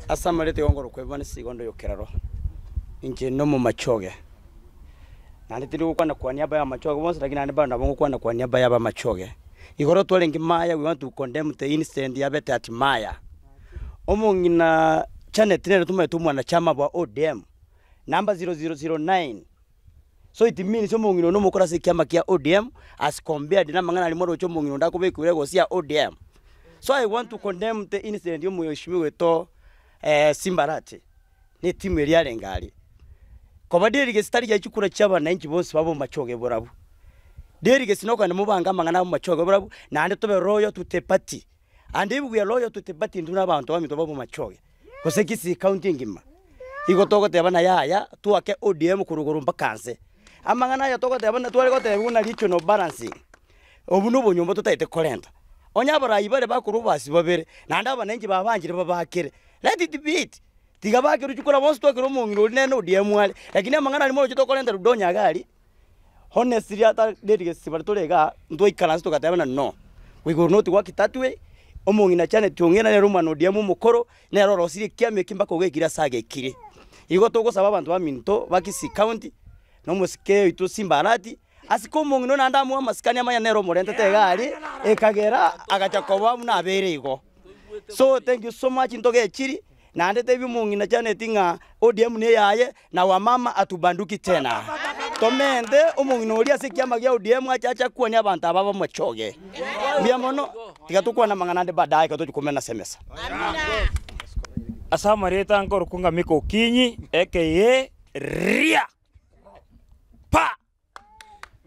Ase amareta igo nkorokwa ebibe ase igondo y'ekerero, inche n'omomachi oye, naende tindi gokwana kwania niaba y'abamachi oye bonsi, rakini naende mbare ngokwana kwania niaba y'abamachi oye. Igoro twarenge maya we want to condemn the incident ya bete at maya. Omong'ina Janet nere tomaete omwanachama bwa ODM, number zero zero zero nine. So it means omong'ina one omokoro ase ekiama kia ODM as compared na amang'ana aria mwaroche omong'ina onde akobekwire egosi ya ODM. So I want to condemn the incident ya omweshimiwa oito eh, Simbarati na etimu eria arenge aria. Koba deri gesi tari giachia kura chia abananchi bonsi babe omomachoge eborabwo. Deri gesi nokogenda mobange amang'ana abe omomachoge eborabwo naende tobe loyal to the party. And if we are loyal to the party ndire abanto baminto babe omomachoge. gose Kisii County engima. Igo togoteba na yaya twake ODM korwa igoro mpaka nse. Amang'ana aya togoteba na tware gotebigwa na regional balancing. Obwo na obonyomba totaete korenta. Onye abarai bare bakorwa obasi babere, naende abananchi babanchire babakere. Let it be it. Tiga bake ruchi kora bonsi twakere omong'ina oria nere na ODM are. Lakini amang'ana aria morochete okorenta Ludonya iga aria. Bono esiri ata nerigesi bare tore igaa, ntwaikaranse togateebana no, igoro nobotugi bwa kitatwe, omong'ina Janet ong'ina nere omwana oria amo omokoro, nere orosirie ekiama eke mpaka ogekire ase agekire. Igo togosaba abanto baminto ba Kisii County, na omosike oito Simba Arati, ase ka omong'ina oyio naende amoe amasikani amanye nere omorentete iga aria, ekagera agacha koba buna abeire igo. So thank you so much ntogechiri. Naende tebia omong'ina Janeti ng'a ODM ne eyaye, na Wamama hatubanduki tena. Tomente omong'ina oria ase ekiama gia ODM ache ache akwanie abanto aba bamochoge. Mbuya mono. Tiga tokwane amang'ana ande baadaye ekero tochia komena ase emesa. Ase amareta nkorokwa ng'a mikokinyi, ekeiria, pa!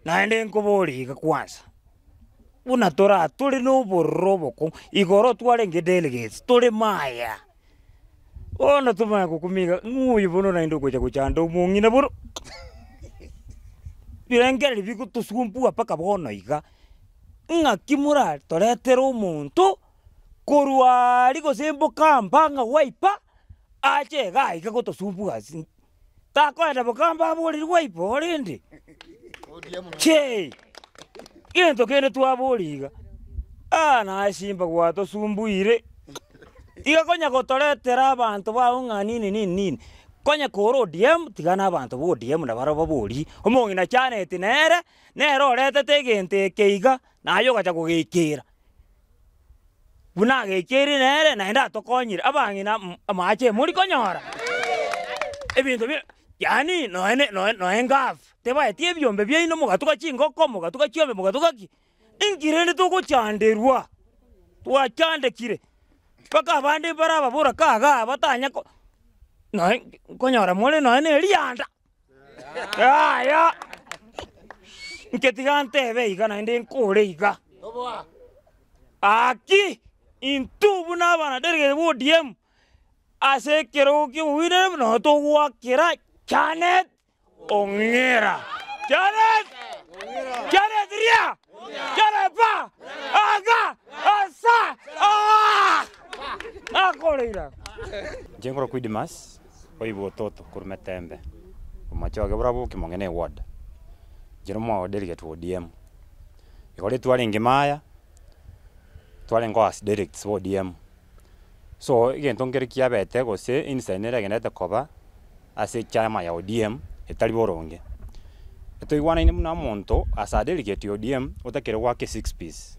Naende nkoborie iga kwansa, buna tore aa tore na obororo obokong'u, igoro twarenge delegates tore maya, bono tomanye gokumia iga ng'o oyo bono naende ogocha gochanda omong'ina bono birengereri bigotosumbua mpaka bono iga, ng'aki mora toretere omonto korwa aria gose mboka amba ng'a Wiper ache igaa iga gotosumbua ase. takoenda bokambe abooreri gwaibo rende. Chee! Gento kende twabora iga, aa naye simba gwatosumbuire, iga konya gotoretera abanto bago ng'a nini nini nini, konya kore ODM tiga na abanto ba ODM na barobwo baborie, omong'ina chaneti nere, nere oretete egento eke iga, naye ogacha kogeikera. buna agecheire nere naende atokonyire abang'ina m- amache emori konyora ebinto bire yaani noe ne noe noe ngafu, tebaeti ebiombe biaino mogatuga chingoko, mogatuga chiombe mogatuga ki, inki rende togochanderwa? Twachandekire mpaka abande mbare ababura kaga batanya ko noe nkonyora more noe ne erianda. Yaya! Inche tiga ntebe iga naende nkore iga. Aki! Intwe buna abana delegate ba ODM, ase ekerogo ki'obominaneri buna nabo togoakera Janet Ong'era. Janet! Janet ria! Janet pa! Aga! Asa! Aa! Nakoreira. Inche nkoro Quidimas, oigwe ototo korwa metembe, omochie oye bora boki monge ne ward, inche no mwa delegate wa ODM, igoro twarenge maya, twarengeo as delegates ba ODM, so egento nkere kiabete gose incident nere egenderete koba ase echaama ya ODM etari boronge, etoigwanaine buna omonto as a delegate ya ODM otakire goaka esix piece.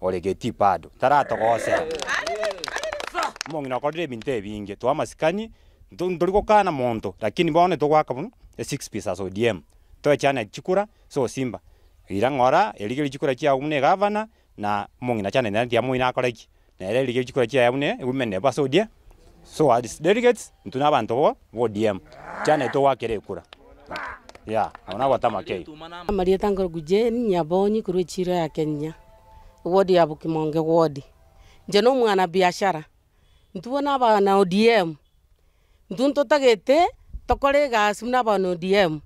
Ore getii bado taratogosera. Omong'ina okorire ebinto ebinge. Too amasikani, ntori gokana monto, lakini bono togoaka buna esix piece as ODM. Toechane chikura ase osimba. Riira ng'ora, erigerie chikura chiago buna egavana, na omong'ina chanete natiamoine akore ki. Nere erigerie chikura chiaye buna women rep ase ODM. so as delegates intwe nabanto bo ODM chiana togwakera ekura yeah agwo nagwo atama keira. Amarieta nkoraku Jane Nyabonyi korwa echiro ya Kenya, eward ya Bokimonge ward. Inche na omwana biashara, intwe bono abana ODM, intwe ntotagete tokore egasi buna abana ODM.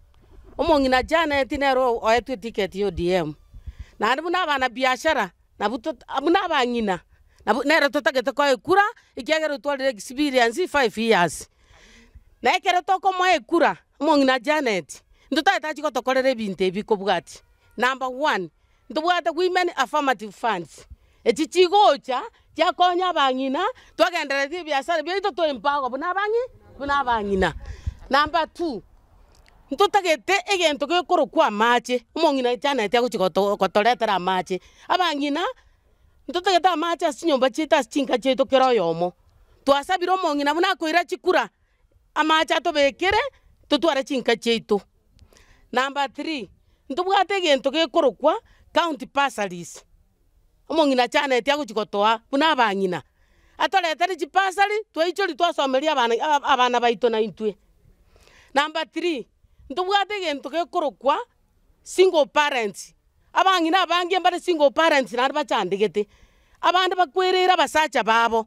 Omong'ina achianeti nere oetwe etiketi ya ODM. Naende buna abana biashara. Nabwo to, buna abang'ina, nabo nere totagete koekura, ekiagera otwarire experience five years. Na ekero tokomoa ekura, omong'ina Janet, ntotagete achie gotokorera ebinto ebi kobwatia. Number one, ntobwate women affirmative funds, echi chigocha chiakonya abang'ina, twagendereretie ebiasara biaito to empower buna abang'i, buna abang'ina. Number two. ntotagete egento gekorokwa amache, omong'ina echaneti agochi goto gotoretera amache. Abang'ina, ntotagete amache ase chinyomba chiaito ase chinka chiaito kera oyomo, twasabire omong'ina buna akoira chikura, amache atobekere, totware chinka chiaito. Number three, ntobwate egento gekorokwa county bursaries. Omong'ina achaneti agochia gotoa buna abang'ina, atoretere chibasari twaichori twasomeria abana abana baito na intwe. Number three, ntobwate egento gekorokwa single parents, abang'ina abange mbare single parents naende bachandegete, abande bakwereire abasacha babo,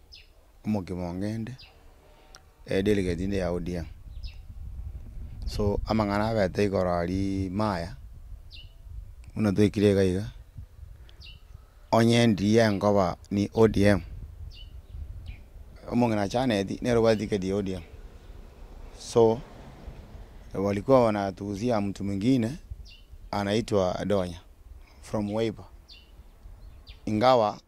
omogima onge inde, edelegate inde ya odm, so amang'ana abete igoro aria maya, buna toikire iga iga, onye ndiye nkoba ni odm, omong'ina achaneti nere obwate tiketi ya odm, so walikuwa wanatuuzia mtu mwingine anaitwa donya from wiper, ingawa.